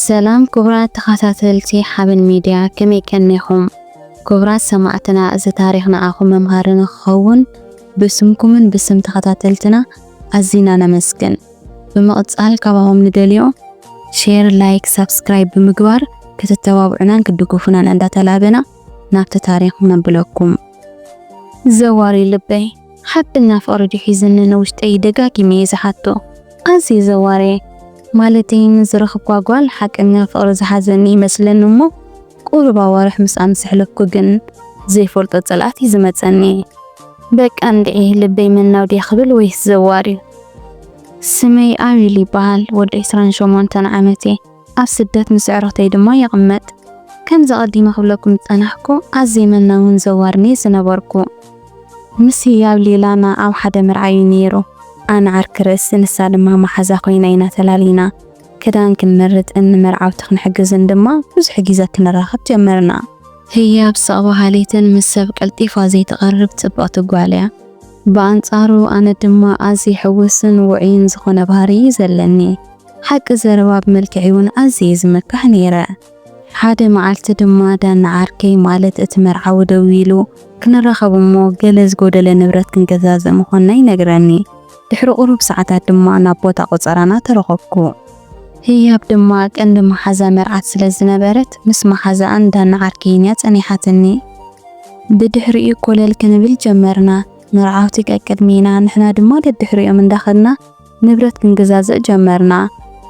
ሰላም ክቡራት ተኸታተልቲ ሓበን ሚድያ ከመይ ቀኒኹም? ክቡራት ሰማዕትና እዚ ታሪኽ ንዓኹም መምሃሪ ንክኸውን ብስምኩምን ብስም ተኸታተልትና ኣዚና ነመስግን። ብምቕጻል ካባኹም ንደልዮ ሼር ላይክ ሳብስክራይብ ብምግባር ክትተባብዑናን ክትድግፉናን እንዳተላበና ናብቲ ታሪኽ ነብለኩም። ዘዋሪ ልበይ ሓቀኛ ፍቕሪ ድዩ ሒዝኒ ንውሽጠይ ደጋጊመ እየ ዝሓቶ ኣዝየ ዘዋርየ ማለተይ ንዝረኽብኳ ጓል ሓቀኛ ፍቕሪ ዝሓዘኒ ይመስለኒ እሞ ቁሩብ ኣዋርሕ ምስ ኣምሰሕለፍኩ ግን ዘይፈልጦ ጽልኣት እዩ ዝመጸኒ። በቃ እንድዒ ልበይ መናው ድያ ክብል ወይስ ዘዋር እዩ። ስመይ ኣቤል ይበሃል፣ ወዲ ዕስራን ሸሞንተን ዓመት እየ። ኣብ ስደት ምስ ኣዕሩኽተይ ድማ ይቕመጥ። ከምዚ ኣቐዲመ ክብለኩም ዝጸናሕኩ ኣዝየ መናውን ዘዋርን እየ ዝነበርኩ። ምስ ህያብ ሌላና ኣብ ሓደ መርዓ እዩ ነይሩ። ኣነ ዓርኪ ርእሲ ንሳ ድማ መሓዛ ኮይና ኢና ተላሊና። ክዳን ክንመርጽን ንመርዓውቲ ክንሕግዝን ድማ ብዙሕ ግዜ ክንራኸብ ጀመርና። ህያብ ስቕ በሃሊትን ምስ ሰብ ቀልጢፋ ዘይትቐርብ ጽብቕቲ ጓል እያ። ብኣንጻሩ ኣነ ድማ ኣዝየ ሕጉስን ውዑይን ዝዀነ ባህሪ እዩ ዘለኒ። ሓቂ ዘረባ ብመልክዐይ'ውን ኣዝየ እየ ዝምካሕ ነይረ። ሓደ መዓልቲ ድማ ዳኒ ዓርከይ ማለት እቲ መርዓዊ ደዊሉ ክንራኸብ እሞ ገለ ዝጎደለ ንብረት ክንገዛዝእ ምኾንና ይነግረኒ። ድሕሪ ቁሩብ ሰዓታት ድማ ናብ ቦታ ቆጸራና ተረኸብኩ። ህያብ ድማ ቀንዲ መሓዛ መርዓት ስለ ዝነበረት ምስ መሓዛኣን ዳኒ ዓርከይን እያ ጸኒሓትኒ። ብድሕሪኡ ኮለል ክንብል ጀመርና። መርዓውቲ ቀቅድሜና ንሕና ድማ ደድሕሪኦም እንዳኸድና ንብረት ክንገዛዝእ ጀመርና።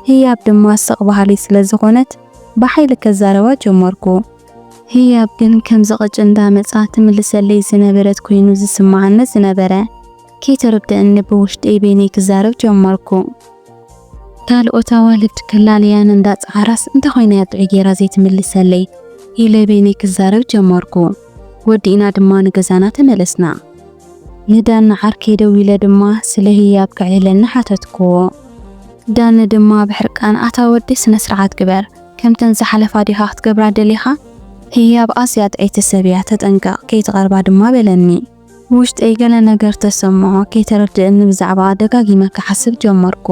ህያብ ድማ ስቕ በሃሊት ስለ ዝዀነት ብሓይሊ ከዛርባ ጀመርኩ። ህያብ ግን ከምዚ ቅጭ እንዳመጽኣ ትምልሰለይ ዝነበረት ኰይኑ ዝስምዓኒ ዝነበረ። ከይተረድኣኒ ብውሽጠይ በይነይ ክዛረብ ጀመርኩ። ካልኦት ኣዋልድ ከላልያን እንዳጸዓራስ እንታይ ኰይና'ያ ጥዑይ ገይራ ዘይትምልሰለይ? ኢለ በይነይ ክዛረብ ጀመርኩ። ወዲእና ድማ ንገዛና ተመለስና። ንዳኒ ዓርከይ ደዊለ ድማ ስለ ህያብ ከዕልለኒ ሓተትክዎ። ዳኒ ድማ ብሕርቃን ኣታ ወዲ ስነስርዓት ግበር፣ ከምተን ዝሓለፋ ዲኻ ክትገብራ ደሊኻ? ህያብ ኣዝያ ጥዕይቲ ሰብ እያ ተጠንቀቕ ከይትቐርባ ድማ በለኒ። ውሽጠይ ገለ ነገር ተሰምዖ፣ ከይተረድእኒ ብዛዕባኣ ደጋጊመ ክሓስብ ጀመርኩ።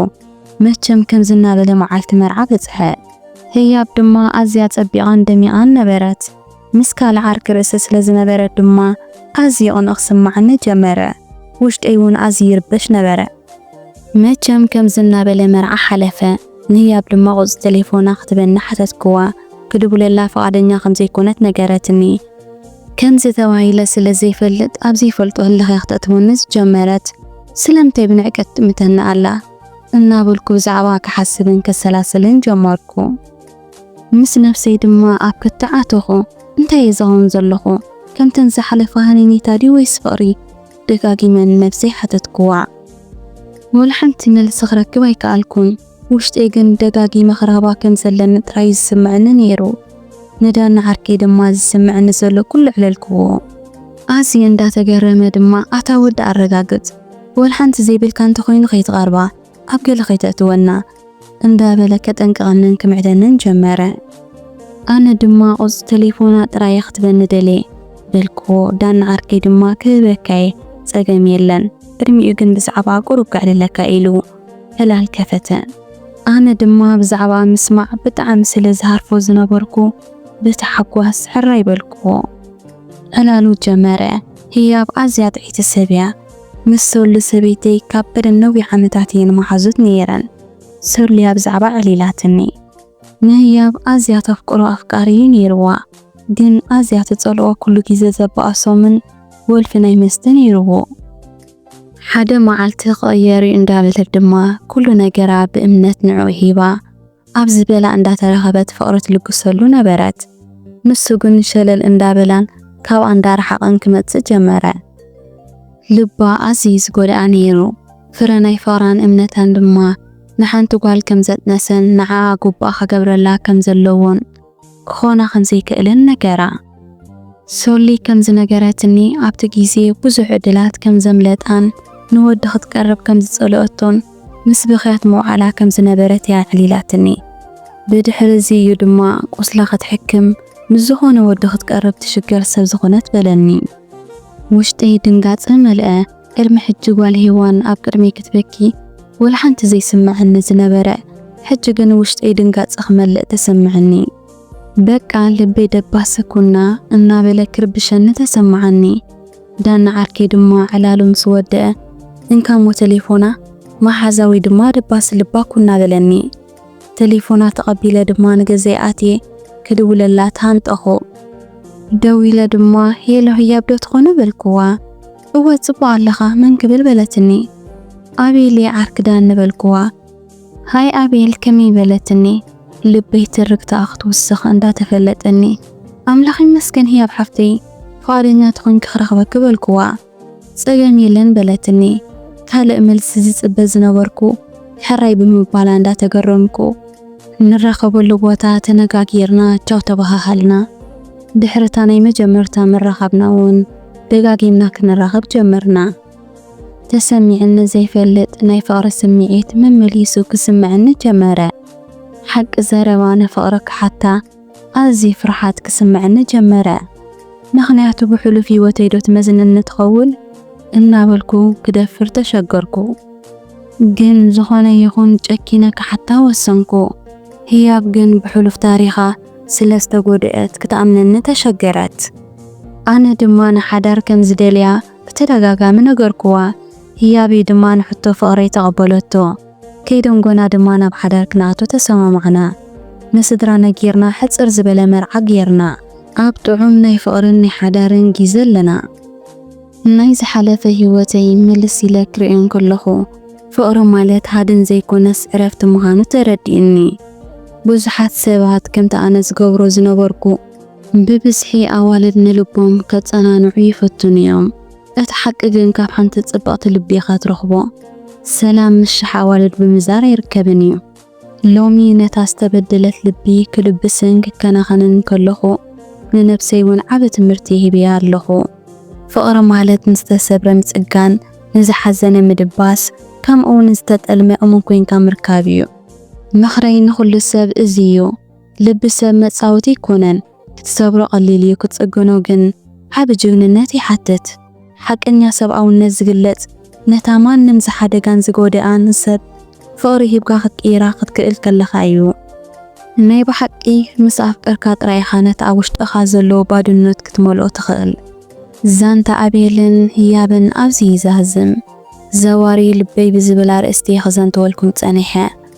መቸም ከምዚ እናበለ መዓልቲ መርዓ በጽሐ። ህያብ ድማ ኣዝያ ጸቢቓን ደሚቓን ነበረት። ምስ ካልእ ዓርኪ ርእሲ ስለ ዝነበረ ድማ ኣዝዩ ይቕንእ ክስምዓኒ ጀመረ። ውሽጠይ እውን ኣዝዩ ይርበሽ ነበረ። መቸም ከምዚ እናበለ መርዓ ሓለፈ። ንህያብ ድማ ቁጽሪ ተሌፎና ክትበኒ ሓተትክዋ። ክድውለላ ፍቓደኛ ከም ዘይኮነት ነገረትኒ። ከምዚ ተባሂለ ስለ ዘይፈልጥ ኣብ ዘይፈልጦ ህልኽ እያ ክተእትወኒ ዝጀመረት። ስለምንታይ ብንዕቀት ትጥምተኒ ኣላ? እናበልኩ ብዛዕባኣ ክሓስብን ከሰላስልን ጀመርኩ። ምስ ነብሰይ ድማ ኣብ ክትዕ ኣተኹ። እንታይ እየ ዝኸውን ዘለኹ? ከምተን ዝሓለፋ ሃነይታ ድዩ ወይስ ፍቕሪ? ደጋጊመ ንነብሰይ ሓተትኩዋ። ወላ ሓንቲ መልሲ ክረክብ ኣይከኣልኩን። ውሽጠይ ግን ደጋጊመ ክረኽባ ከም ዘለኒ ጥራይ እዩ ዝስምዐኒ ነይሩ። ንዳኒ ዓርከይ ድማ ዝስምዐኒ ዘሎ ኩሉ ኣዕለልኩዎ። ኣዝዩ እንዳተገረመ ድማ ኣታ ወዲ ኣረጋግጽ፣ ወላ ሓንቲ ዘይብልካ እንተኾይኑ ከይትቐርባ፣ ኣብ ገለ ከይተእትወና እንዳበለ ከጠንቅቐንን ክምዕደንን ጀመረ። ኣነ ድማ ቁጽሪ ተሌፎና ጥራይ እየ ክትበኒ ደልየ በልክዎ። ዳኒ ዓርከይ ድማ ክህበካ እየ ጸገም የለን ቅድሚኡ ግን ብዛዕባኣ ቁሩብ ከዕልለካ ኢሉ ዕላል ከፈተ። ኣነ ድማ ብዛዕባኣ ምስማዕ ብጣዕሚ ስለ ዝሃርፎ ዝነበርኩ ብታሕጓስ ሕራይ በልክዎ። ዕላሉ ጀመረ። ህያብ ኣዝያ ጥዕይቲ ሰብ እያ። ምስ ሶሊ ሰበይተይ ካብ ቀደም ነዊሕ ዓመታት እየን መሓዙት ነይረን። ሶሊ ኣብ ዛዕባ ዕሊላትኒ። ንህያብ ኣዝያ ተፍቅሮ ኣፍቃሪ እዩ ነይርዋ። ግን ኣዝያ ትጸልኦ ኩሉ ግዜ ዘባእሶምን ወልፊ ናይ መስተ ነይርዎ። ሓደ መዓልቲ ክቕየር እዩ እንዳበለት ድማ ኩሉ ነገራ ብእምነት ንዕኡ ሂባ። ኣብ ዝበላ እንዳተረኸበት ፍቕሪ ትልግሰሉ ነበረት። ንሱ ግን ሸለል እንዳበላን ካብኣ እንዳረሓቐን ክመጽእ ጀመረ። ልባ ኣዝዩ ዝጎድኣ ነይሩ። ፍረ ናይ ፍቕራን እምነታን ድማ ንሓንቲ ጓል ከምዘጥነሰን ንዓኣ ጉቡኣ ክገብረላ ከምዘለዎን ክኾና ከም ዘይክእልን ነገራ። ሶሊ ከም ዝነገረትኒ፣ ኣብቲ ግዜ ብዙሕ ዕድላት ከም ዘምለጣን ንወዲ ክትቀርብ ከም ዝጸልኦቶን ምስ ብኽያት ምውዓላ ከም ዝነበረት እያ ኣዕሊላትኒ። ብድሕሪ እዚ እዩ ድማ ቁስላ ክትሕክም ምስ ዝኾነ ወዲ ክትቀርብ ትሽገር ሰብ ዝኾነት በለኒ። ውሽጠይ ድንጋጸ መልኣ። ቅድሚ ሕጂ ጓል ሄዋን ኣብ ቅድመይ ክትበኪ ወላ ሓንቲ ዘይስመዐኒ ዝነበረ ሕጂ ግን ውሽጠይ ድንጋጸ ክመልእ ተሰመዐኒ። በቃ ልበይ ደባሰ ኩና እናበለ ክርብሸኒ ተሰመዓኒ። ዳኒ ዓርከይ ድማ ዕላሉ ምስ ወደኣ እንካ እሞ ተሌፎና መሓዛ ወይ ድማ ደባሲ ልባ ኩና በለኒ። ተሌፎና ተቐቢለ ድማ ንገዛይ ኣትየ ክድውለላ ተሃንጠኹ። ደዊለ ድማ ሄሎ ህያብ ዶ ትኾኑ በልኩዋ። እወ ጽቡቕ ኣለኻ መን ክብል በለትኒ ኣቤል'የ ዓርኪ ዳን ንበልኩዋ ሃይ ኣቤል ከመይ በለትኒ ልበይ ትርግታኣ ክትውስኽ እንዳ ተፈለጠኒ ኣምላኽ ይመስገን ህያብ ሓፍተይ ፍቓደኛ ተኾይንኪ ክረኽበኪ በልኩዋ ጸገም የለን በለትኒ ካልእ መልሲ ዝጽበ ዝነበርኩ ሕራይ ብምባላ እንዳ ተገረምኩ ንራኸበሉ ቦታ ተነጋጊርና ቻው ተበሃሃልና ድሕሪ እታ ናይ መጀመርታ ምርኻብና ውን። ደጋጊምና ክንራኸብ ጀመርና። ተሰሚዑኒ ዘይፈልጥ ናይ ፍቕሪ ስምዒት መመሊሱ ክስምዐኒ ጀመረ። ሓቂ ዘረባ ንፍቕሪ ክሓታ ኣዝዩ ፍርሓት ክስምዐኒ ጀመረ። ምኽንያቱ ብሕሉፍ ህይወተይዶ ትመዝነኒ ትኸውን እናበልኩ ክደፍር ተሸገርኩ። ግን ዝኾነ ይኹን ጨኪነ ክሓታ ወሰንኩ። ህያብ ግን ብሕሉፍ ታሪኻ ስለ ዝተጎድእት ክትኣምነኒ ተሸገረት። ኣነ ድማ ንሓዳር ከም ዝደልያ ብተደጋጋሚ ነገርኩዋ። ህያቢ ድማ ንሕቶ ፍቕረይ ተቐበለቶ። ከይደንጎና ድማ ናብ ሓዳር ክንኣቱ ተሰማማዕና። ንስድራ ነጊርና ሕጽር ዝበለ መርዓ ጌርና። ኣብ ጥዑም ናይ ፍቕርን ናይ ሓዳርን ጊዘ ኣለና። ናይ ዝሓለፈ ህይወተይ ምልስ ኢለ ክርእዮ እንከለኹ፣ ፍቕሪ ማለት ሃድን ዘይኰነስ ዕረፍቲ ምዃኑ ተረዲኡኒ። ብዙሓት ሰባት ከምቲ ኣነ ዝገብሮ ዝነበርኩ፣ ብብዝሒ ኣዋልድ ንልቦም ከጸናንዑ ይፍትኑ እዮም። እቲ ሓቂ ግን ካብ ሓንቲ ጽብቕቲ ልቢ ኢኻ ትረኽቦ ሰላም ምስ ሽሕ ኣዋልድ ብምዛር ኣይርከብን እዩ። ሎሚ ነታ ዝተበደለት ልቢ ክልብስን ክከናኸንን ከለኹ፣ ንነብሰይ ውን ዓቢ ትምህርቲ ሂበያ ኣለኹ። ፍቕሪ ማለት ንዝተሰብረ ምጽጋን፣ ንዝሓዘነ ምድባስ፣ ከምኡውን ንዝተጠልመ እሙን ኮይንካ ምርካብ እዩ። ምኽረይ ንኹሉ ሰብ እዚ እዩ። ልቢ ሰብ መጻወቲ ኣይኮነን ክትሰብሮ ቀሊል እዩ ክትጽግኖ ግን ዓቢ ጅግንነት ይሓትት። ሓቀኛ ሰብኣውነት ዝግለጽ ነታ ማንም ዝሓደጋን ዝጎደኣን ሰብ ፍቕሪ ሂብካ ክትቅይራ ክትክእል ከለኻ እዩ። ናይ ብሓቂ ምስ ኣፍቀርካ ጥራይ ኢኻ ነቲ ኣብ ውሽጥኻ ዘሎ ባድኖት ክትመልኦ ትኽእል። ዛንታ ኣቤልን ህያብን ኣብዚ ይዛዝም። ዘዋሪ ልበይ ብዝብል ኣርእስቲ ክዘንትወልኩም ጸኒሐ።